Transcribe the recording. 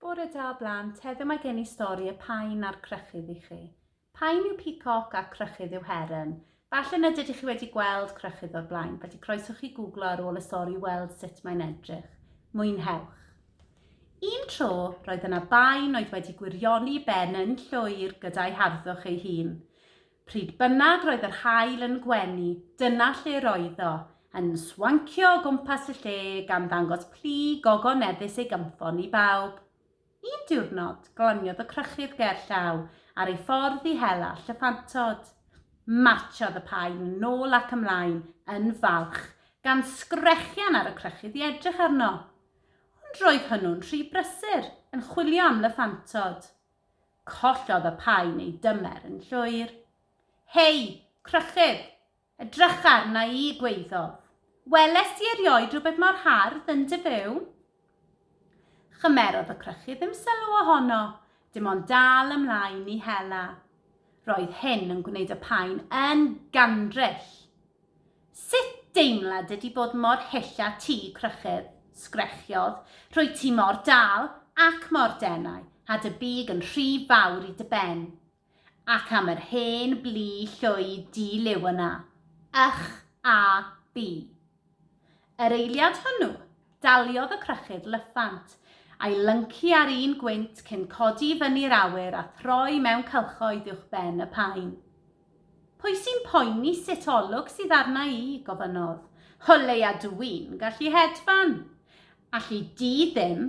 Bore da o blant, heddiw mae gen i stori y pain a'r crychydd i chi. Pain yw peacock a crychydd yw heron. Falle nad ydych chi wedi gweld Crychydd o'r blaen, felly croeso chi googlo ar ôl y stori i weld sut mae'n edrych. Mwynhewch! Un tro, roedd yna baen oedd wedi gwirioni ben yn llwyr gyda'i harddwch ei hun. Pryd bynnag roedd yr haul yn gwenu, dyna lle roedd o, yn swancio o gwmpas y lle gan ddangos plu gogoneddus ei gynffon i bawb. Un diwrnod, glaniodd y crychydd ger llaw ar ei ffordd i hela llyffantod. Martsiodd y paun yn ôl ac ymlaen yn falch, gan sgrechian ar y crychydd i edrych arno. Ond roedd hwnnw'n rhy brysur, yn chwilio am lyffantod. Collodd y paun ei dymer yn llwyr. Hei, crychydd! Edrych arna i, gwaeddodd. Welest ti erioed rhywbeth mor hardd yn dy fyw? Chymerodd y crychu ddim sylw ohono, dim ond dal ymlaen i hela. Roedd hyn yn gwneud y paen yn gandryll. Sut deimlad ydi bod mor hyll â ti, crychydd? sgrechiodd. Rwyt ti mor dal ac mor denau, a dy big yn rhy fawr i dy ben. Ac am yr hen blu llwy di-liw yna. Ych a bi. Yr eiliad hwnnw, daliodd y crychyd lyffant, a'i lyncu ar un gwynt cyn codi i fyny'r awyr a throi mewn cylchoedd uwch ben y paun. Pwy sy'n poeni sut olwg sydd arna i? gofynnodd. O leia dw i'n gallu hedfan! Alli di ddim!